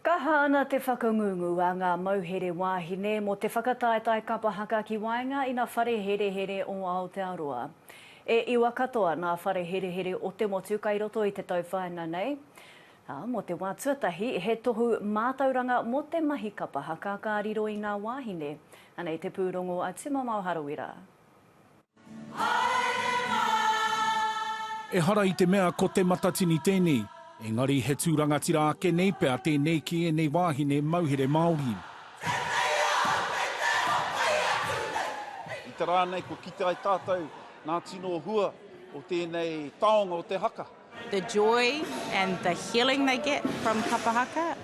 Kaha ana te whakangungu a ngā mauhere wāhine mō te whakataetae kapa haka ki waenga i na whare herehere o Aotearoa. E iwa katoa nā whare herehere o te motu kai roto i te tauwhaina nei, ā, mō te wā tuatahi he tohu mātauranga mō te mahi kapa haka ka riro i ngā wāhine, anei te pūrongo a Tumamao Harawira. Ehara i te mea ko Te Matatini tēnei, engari he tū rangatira ake nei pea tēnei ki ēnei wāhine mauhere Māori. I te rā nei kua kite ai tātou ngā tino hua o tēnei taonga o te haka. The joy and the healing they get from Kapa Haka,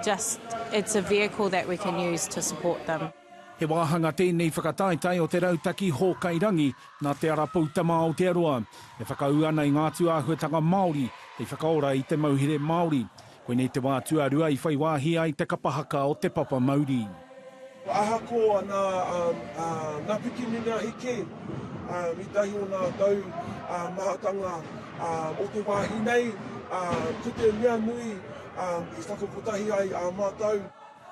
just it's a vehicle that we can use to support them. He wāhanga tēnei whakataetae o te Rautaki Hōkai Rangi nā Te Ara Poutama a Aotearoa, e whakaū ana i ngā atu āhuatanga Māori hei whakaora i te mauhere Māori. Koinei te wā tuarua i whai wāhi ai te kapa haka o Te Papa Mauri. Ahakoa nā Ngapikimina eke, i tahi o ngā tau mahatanga o te wāhi nei, ko te mea nui i whakakotahi ai a mātou.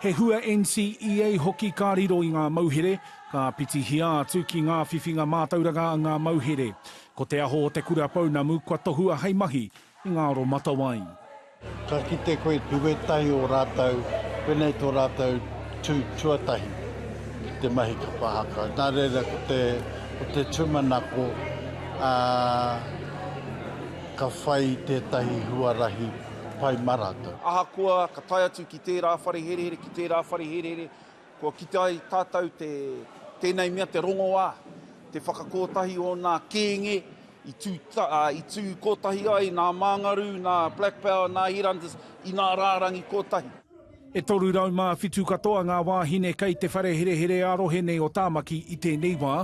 He hua NCEA hoki ka riro i ngā mauhere, ka pitihia atu ki ngā whiwhinga mātauranga a ngā mauhere. Ko Te Aho o Te Kura Pounamu kua tohua hei mahi i ngā aromatawai. Ka kite koe te wētahi o rātou, pēnei tō rātou tū tuatahi ki te mahi kapa haka. Nā reira ko te, ko te tūmanako, ā, ka whai tētahi huarahi pai mā rātou. Ahakoa ka tae atu ki. Ki tērā whare herehere, ki tērā whare herehere, kua kite ai tātou te, tēnei mea te rongoā, te whakakōtahi o nā kēnge i tū, ta, uh, i tū kōtahi ai nā Māngarū, nā Black Power, nā Headhunters, i nā rārangi kōtahi. E 307 katoa ngā wāhine kei te whare herehere ā-rohe nei o Tāmaki i tēnei wā,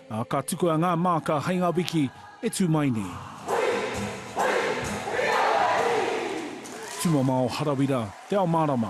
ā, ka tukua ngā māka hei ngā wiki e tū mai nei. Tumamao Harawira, Te Ao Mārama,